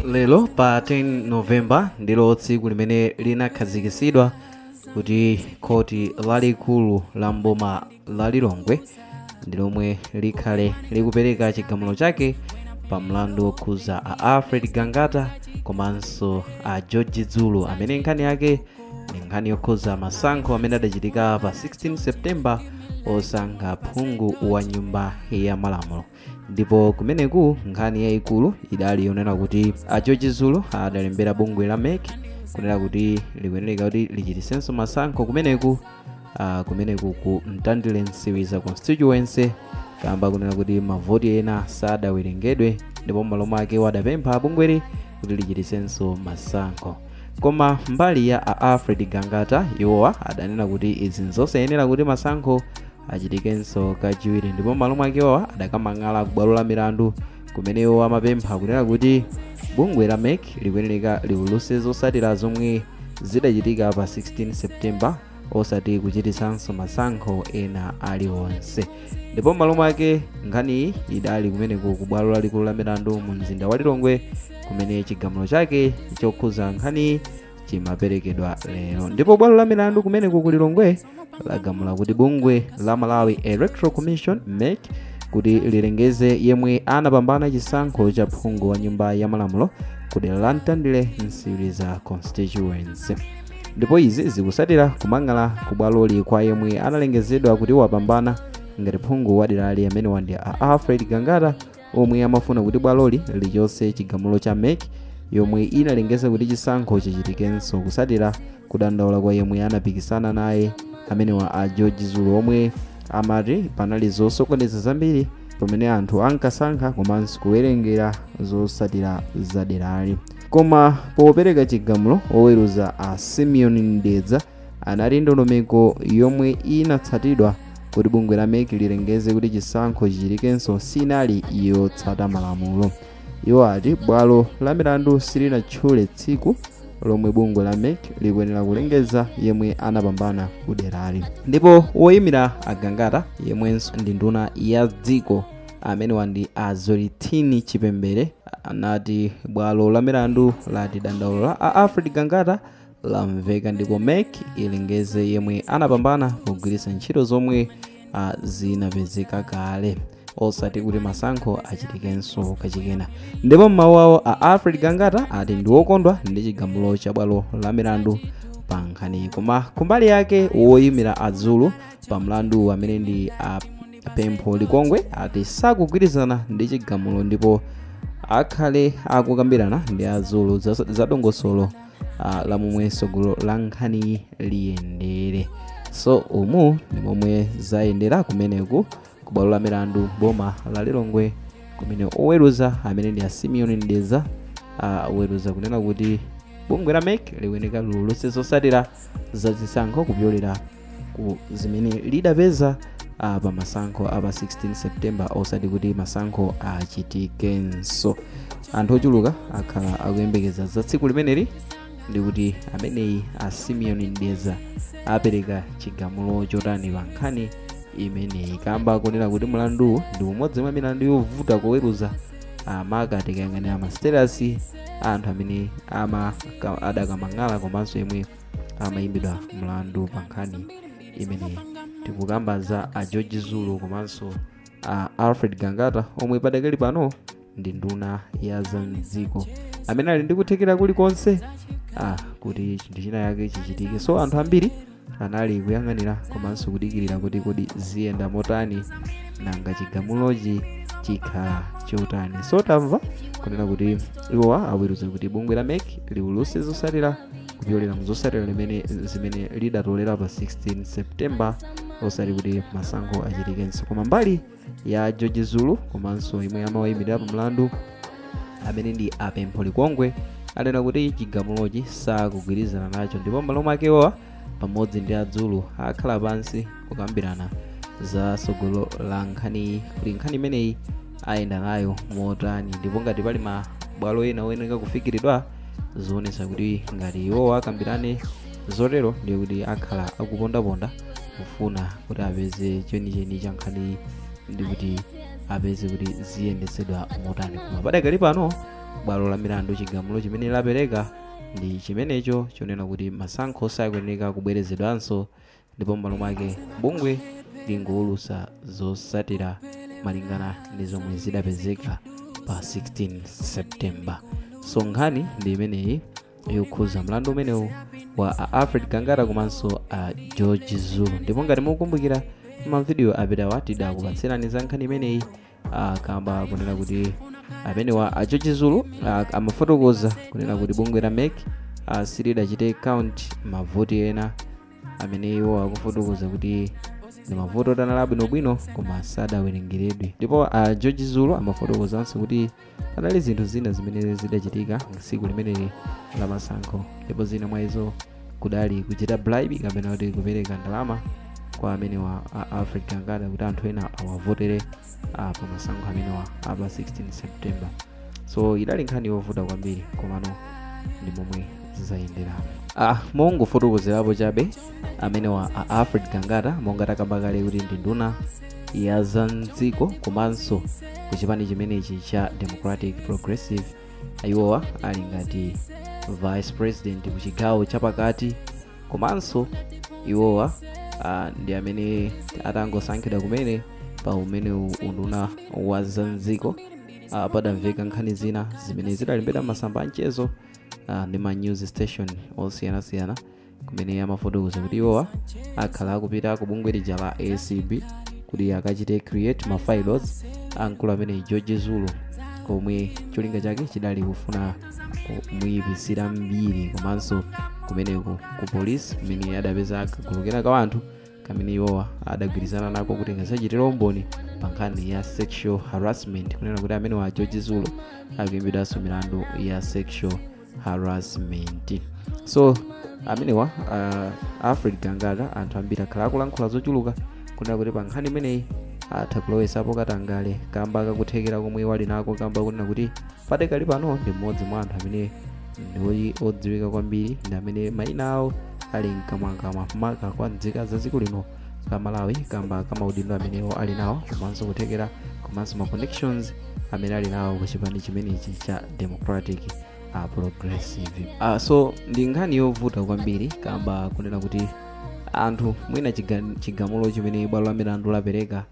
lero pa 10 novemba ndilo tsiku limene linakhazikitsidwa kuti khoti lalikulu la mboma la lilongwe ndi lomwe likhale likupereka chigamulo chake pa mlandu wokhuza a alfred gangata komanso a george zulu amene nkhani yake ndi nkhani yokhuza masankho amene adachitika pa 16 septemba osankha phungu wa nyumba ya malamulo ndipo kumeneku nkhani yayikulu idali yonena kuti a george zulu adalembera bungwe la mec kunena kuti likuyeneleka kuti lichitisenso masankho kumeneku ah, kumeneku ku mtandile nsiliza constituency kamba kunena kuti mavoti ena sadawerengedwe ndipo m'malo mwake wadapempha bungweli kuti lichitisenso masankho koma mbali ya a alfred gangata iwowa adanena kuti izi nzosayenera kuti masankho achitikenso kachiwiri ndipo m'malo mwake iwowa adakamang'ala ku bwalo la milandu kumene iwo amapempha kunena kuti bungwe la mec likuyenereka liulutse zotsatira zomwe zidachitika pa 16 septemba osati kuchititsanso masankho ena aliwonse ndipo m'malo mwake nkhaniyi idali kumeneko ku bwalo lalikulu la milandu mu mzinda wa lilongwe kumene chigamulo chake chokhuza nkhaniyi chimaperekedwa lero ndipo bwalo la milandu kumeneko ku lilongwe lagamula kuti bungwe la malawi electoral commission mec kuti lilengeze yemwe anapambana chisankho cha phungu wa nyumba ya malamulo ku dera la mtandire nsiliza constituency ndipo izi zikusatira kumang'ala ku bwaloli kwa yemwe analengezedwa kuti wapambana ngati phungu wa derali amenewa ndi a alfred gangata omwe amafuna kuti bwaloli lichotse chigamulo cha mec yomwe inalengeza kuti chisankho chichitikenso kusatira kudandaula kwa yemwe anapikisana naye amenewa a george zulu omwe amati panali zosokoneza zambiri pamene anthu ankasankha komanso kuwerengera zosatira zaderali koma popereka chigamulo oweruza a simeon mdeza anati ndondomeko yomwe inatsatidwa kuti bungwe la mec lilengeze kuti chisankho chichitikenso sinali yotsata malamulo iwo ati bwalo la milandu silinatchule tsiku lomwe bungwe la mec likuyenera kulengeza yemwe anapambana kuderali ndipo woyimira a gangata yemwenso ndi nduna ya dziko amenewa ndi a zwelithini chipembere anati bwalo la milandu lati dandaulo la a alfred gangata lamveka ndipo mec ilengeze yemwe anapambana pogwiritsa ntchito zomwe ah, zinapezeka kale osati kuti masankho achitikenso kachikena ndipo m'mawu awo a alfred gangata ati ndi wokondwa ndi chigamulo cha bwalo la milandu pa nkhaniyi koma kumbali yake woyimira a zulu pa mlandu amene ndi a pempho likongwe ati sakugwirizana ndi chigamulo ndipo akhale akukambirana ndi a zulu za za dongosolo uh, la momwe tsogolo la nkhaniyi liyendere so umu ndi momwe zayendera kumeneku ku bwalo la milandu m'boma la lilongwe kumene oweruza amene ndi a simeon mdeza aweruza kunena kuti bungwe la mec likuyenera liulutse zotsatira za zisankho kupyolera ku zimene lidapeza ah, pa masankho a pa 16 september osati kuti masankho achitikenso anthu ochuluka akhala akuyembekeza za tsiku limeneli ndi kuti ameneyi a simeon mdeza apereka chigamulo chotani pa nkhani imeneyi kamba konena kuti mlanduwu ndi umodzi mwa milandu yovuta kuweruza ah maka tikayang'anira ma status a anthu amene ama ka- adakamang'ala komanso yemwe amayimbidwa mlandu pa nkhani imeneyi tikukamba za a george zulu komanso a alfred gangata omwe padakali pano ndi nduna ya za mdziko amene ali ndi kuthekera kulikonse ah, kuti chinthu china yake chichitike so anthu ambiri anali kuyang'anira komanso kudikirira kuti kodi ziyenda motani nanga chigamulochi chikhala chotani so tamva kunena kuti iwowa aweruza kuti bungwe la mec liulutse zotsatira kupyolera mu zotsatira limene zimene lidatolera pa 16 september osati kuti masankho achitikenso koma mbali ya george zulu komanso yemwe amawayimirira pa mlandu amene ndi a pempho likongwe anena kuti chigamulochi sakugwirizana nacho ndipo m'malo mwake iwowa pamodzi ndi a zulu akhala pansi kukambirana za tsogolo la nkhaniyi kuti nkhani imeneyi ayenda nayo motani ndipo ngati pali mabwalo ena oyenera kufikiridwa zaonetsa kuti ngati iwowa akambirane zotero ndiye kuti akhala akupondaponda kufuna kuti apeze chenicheni cha nkhaniyi ndi kuti apeze kuti ziyendetsedwa motani koma padakali pano bwalo la milandu chigamulo chimene lapereka ndi chimenecho chonena kuti masankho sakuyenera kubwerezedwanso ndipo m'malo mwake bungwe lingowulutsa zotsatira malingana ndi zomwe zidapezeka pa 16 september so nkhani ndi imeneyi yokhuza mlandu umenewu wa a alfred gangata komanso a george zulu ndipo ngati mukukumbukira mavidiyo apitawa tidakupatsirani za nkhani imeneyi ah, kamba kunena kuti amenewa a george zulu ah, amafotokoza kunena kuti bungwe la mec ah, silidachite count mavoti ena amene iwo akufotokoza kuti ndi mavoti oti anali abwinobwino koma sadawerengeredwe ndipo a george zulu amafotokozanso kuti panali zinthu zina zimene zidachitika tsiku limeneli la masankho ndipo zina mwa izo kudali kuchita bribe kapena kuti kupereka ndalama kwa amenewa a alfred gangata kuti anthu ena awavotere ah, pa masankho amenewa apa 16 september so idali nkhani yovuta kwambiri komano ndi momwe zizayendera ah, mongofotokozerapo chabe amenewa a alfred gangata monga takamba kale kuti ndi nduna ya za mdziko komanso ku chipani chimenechi cha democratic progressive iwowa ali ngati vice president ku chigawo chapakati komanso iwowa ah, ndi amene atangosankhidwa kumene pa umenewu unduna wa za mdziko uh, padamveka nkhani zina zimene zidalembedwa m'masamba a mchezo uh, ndi ma news station osiyanasiyana kumene amafotokoza kuti iwowa akhala akupita ku bungwe lija la acb kuti akachite create ma files a mkulu amene george zulu komwe cholinga chake chidali kufuna kumuyipitsira mbiri komanso kumeneko ku polisi kumene adapeza kagulu kena ka anthu kamene iwowa adagwirizana nako kuti kazachitire umboni pa nkhani ya sexual harassment kunena kuti amenewa a george zulu akuimbidwanso milandu ya sexual harassment so amenewa uh, alfred gangata anthu ambiri akhala akulankhula zochuluka kunena kuti pa nkhani imeneyi atha kulowesapo katangale kamba kakuthekera komwe iwo ali nako kamba kunena kuti padakali pano ndi mmodzi mwa anthu amene ndiwoti odziwika kwambiri ndi amene mayina awo ali mkamwamkamwa maka kwa nzika za dziko lino la malawi kamba ka maudindo amene iwo ali nawo komanso kuthekera komanso ma connections amene ali nawo ku chipani chimenechi cha democratic uh, progressive uh, so ndi nkhani yovuta kwambiri kamba kunena kuti anthu mwina chiga- chigamulo chimene bwalo la milandu lapereka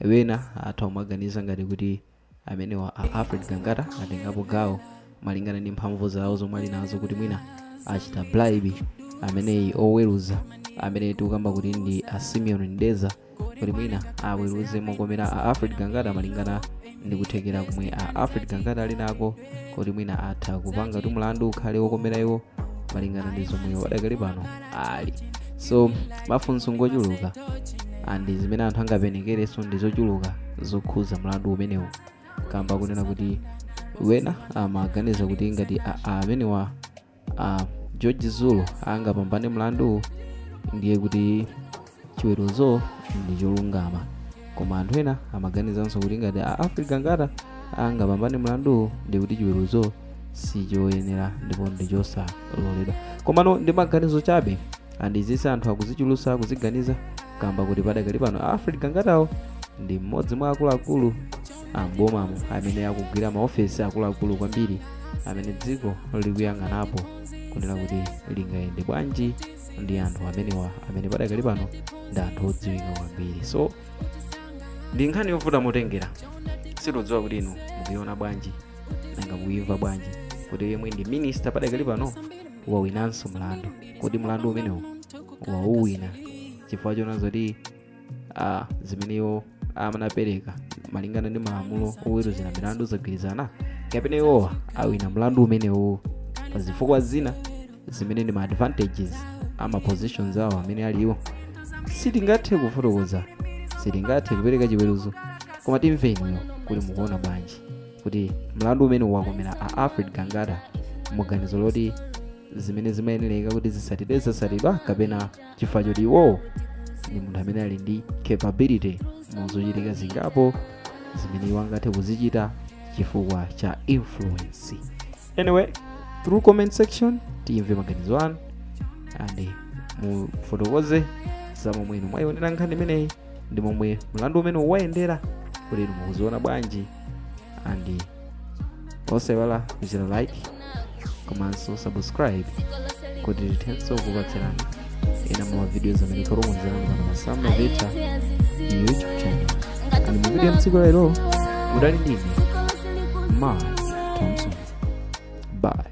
wena atha kumaganiza ngati kuti amenewa a alfred gangata atengapo gawo malingana ndi mphamvu zawo zomwe ali nazo kuti mwina achita bribe ameneyi oweruza amene tikukamba kuti ndi a simeon mdeza kuti mwina aweruze mokomera a alfred gangata malingana ndi kuthekera komwe a alfred gangata ali nako kuti mwina atha kupanga kuti mlandu ukhale wokomera iwo malingana ndi zomwe iwo padakali pano ali so mafunso ngochuluka and zimene anthu angapenekerenso ndi zochuluka zokhuza mlandu umenewu kamba kunena kuti ena amaganiza kuti ngati amenewa george zulu angapambane mlanduwu ndiye kuti chiweruzo ndi cholungama koma anthu ena amaganizanso kuti ngati alfred gangata angapambane mlanduwu ndiye kuti chiweruzo sichoyenera ndipo ndi chosaloledwa komano ndi maganizo chabe and izi za anthu akuzichulusa akuziganiza kamba kuti padakali pano alfred gangatawo ndi mmodzi mwa akuluakulu a m'bomamo amene akugwira maofesi akuluakulu kwambiri amene dziko likuyang'anapo kunena kuti lingayende bwanji ndi anthu amenewa amene padakali pano ndi anthu odziwika kwambiri so ndi nkhani yovuta motengera sitidziwa kuti inu mukuiona bwanji nanga mukuimva bwanji kuti yemwe ndi minister padakali pano wawinanso mlandu kodi mlandu umenewu wauwina chifukwa choona zoti a zimene iwo amanapereka malingana ndi malamulo oweruzira milandu zagwirizana kapena iwowa awina mlandu umenewu pa zifukwa zina zimene ndi ma advantages a ma positions awo amene aliwo sitingathe kufotokoza sitingathe kupereka chiweruzo koma timve inuyo kuti mukuona bwanji kuti mlandu umene wakomera a alfred gangata muganizo loti zimene zimayenereka kuti zitsatidwe zatsatidwa kapena chifukwa choti iwowo ndi munthu amene ali ndi capability mu zochitika zingapo zimene iwo angathe kuzichita chifukwa cha influence anyway through comment section tiyimve maganizo anu and mufotokoze za momwe inu mwayionera nkhani imeneyi ndi momwe mlandu umene wayendera kuti inu mukuziona bwanji and osaiwala kuchita like komanso subscribe kuti tithenso kupatsirani ena mwa ma videos amene tikukonzerani pano pa Sam Mavita youtube channel and mu video ya tsiku la lero mudali ndine mark thompson bye